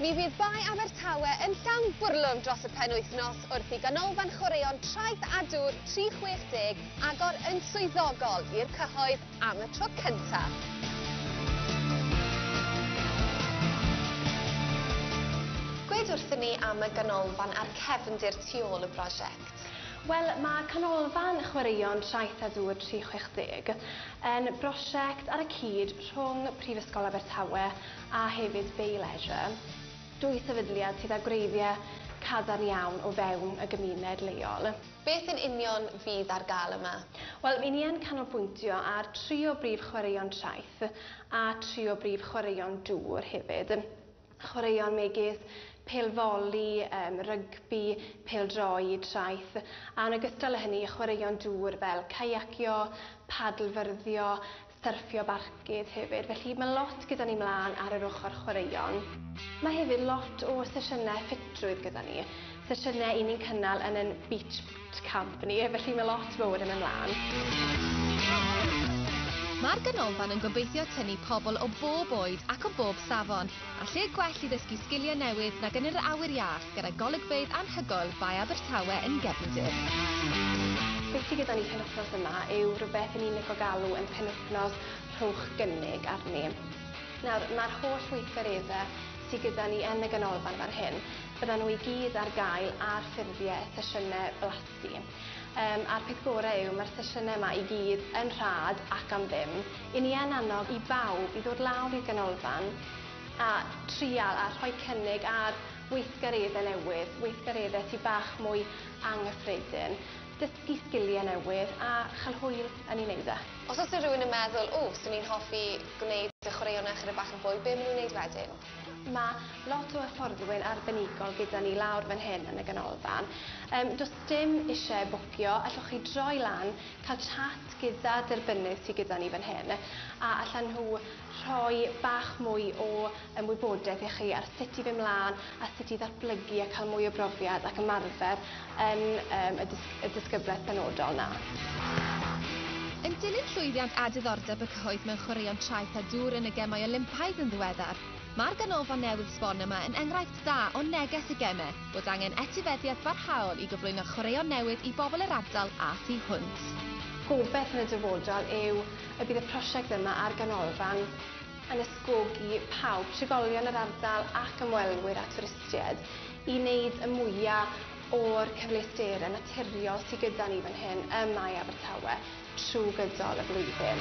Mi fydd Bae Abertawe yn llawn bwrlwm dros y penwythnos wrth i Ganolfan Chwaraeon Traeth a Dŵr 360 agor yn swyddogol i'r cyhoedd. am y tro cyntaf. Gweud wrthyn ni am y ganolfan a'r cefndir tu ôl y brosiect. Wel, mae Canolfan Chwaraeon Traeth a Dŵr 360 yn brosiect ar y cyd rhwng Prifysgol Abertawe a hefyd Bay Leisure, dwy sefydliad sydd â gwreiddiau cadarn iawn o fewn y gymuned leol. Beth yn union fydd ar gael yma? Wel, ry'n ni yn canolbwyntio ar tri o brif chwaraeon traeth a tri o brif chwaraeon dŵr hefyd. Chwaraeon megis pêl foli, yym rygbi, pêl-droed, traeth, a yn ogystal â hynny chwaraeon dŵr fel caiacio, padlfyrddio, syrffio barcud hefyd, felly mae lot gyda ni mlaen ar yr ochr chwaraeon. Mae hefyd lot o sesiynau ffitrwydd gyda ni, sesiynau i ni'n cynnal yn yn beach camp ni, felly mae lot fowr yn mynd mlaen. Mae'r Ganolfan yn gobeithio tynnu pobl o bob oed ac o bob safon, a lle gwell i ddysgu sgiliau newydd nag yn yr awyr iach. gyda golygfeydd anhygoel Bae Abertawe yn gefndir. Beth sy gyda ni penwythnos yma yw rhywbeth i ni'n lico galw yn penwythnos rhowch gynnig arni. Nawr, mae'r holl weithgaredde sy gyda ni yn y ganolfan fan hyn, byddan nhw i gyd ar gael ar ffurfie sesiyne blasu. Yym, a'r peth gore yw mae'r sesiyne yma i gyd yn rhad ac am ddim. I ni yn annog i bawb i ddod lawr i'r ganolfan, a trial a rhoi cynnig ar weithgareddau newydd, weithgareddau sy bach mwy anghyffredin, dysgu sgiliau newydd a chael hwyl yn ei wneud e. Os oes 'na rhywun yn meddwl, 'W, swn i'n hoffi gwneud y chwaraeon yna chydig bach yn fwy, be' ma' nhw'n wneud wedyn? Mae lot o hyfforddwy'n arbenigol gyda ni lawr fan hyn yn y ganolfan. Yym, does dim isie bwcio, allwch chi droi lan, cael chat gyda derbynydd sy gyda ni fan hyn, a allan nhw rhoi bach mwy o ymwybodaeth i chi ar sut i fyn' mlan a sut i ddatblygu a ca'l mwy o brofiad ac ymarfer yn yym y dys- y dysgybleth benodol 'na. Yn dilyn llwyddiant a diddordeb y cyhoedd mewn chwaraeon traeth a dŵr yn y Gemau Olympaidd yn ddiweddar, mae'r ganolfan newydd sbon yma yn enghraifft da o neges y Geme bod angen etifeddiaeth barhaol i gyflwyno chwaraeon newydd i bobl yr ardal a thu hwnt. Gobeith yn y dyfodol yw y bydd y prosiect yma a'r ganolfan yn ysgogi pawb, trigolion yr ardal ac ymwelwyr a twristied, i wneud y mwya' o'r cyfleusterau naturiol sy gyda ni fan hyn ym Mae Abertawe trwy gydol y flwyddyn.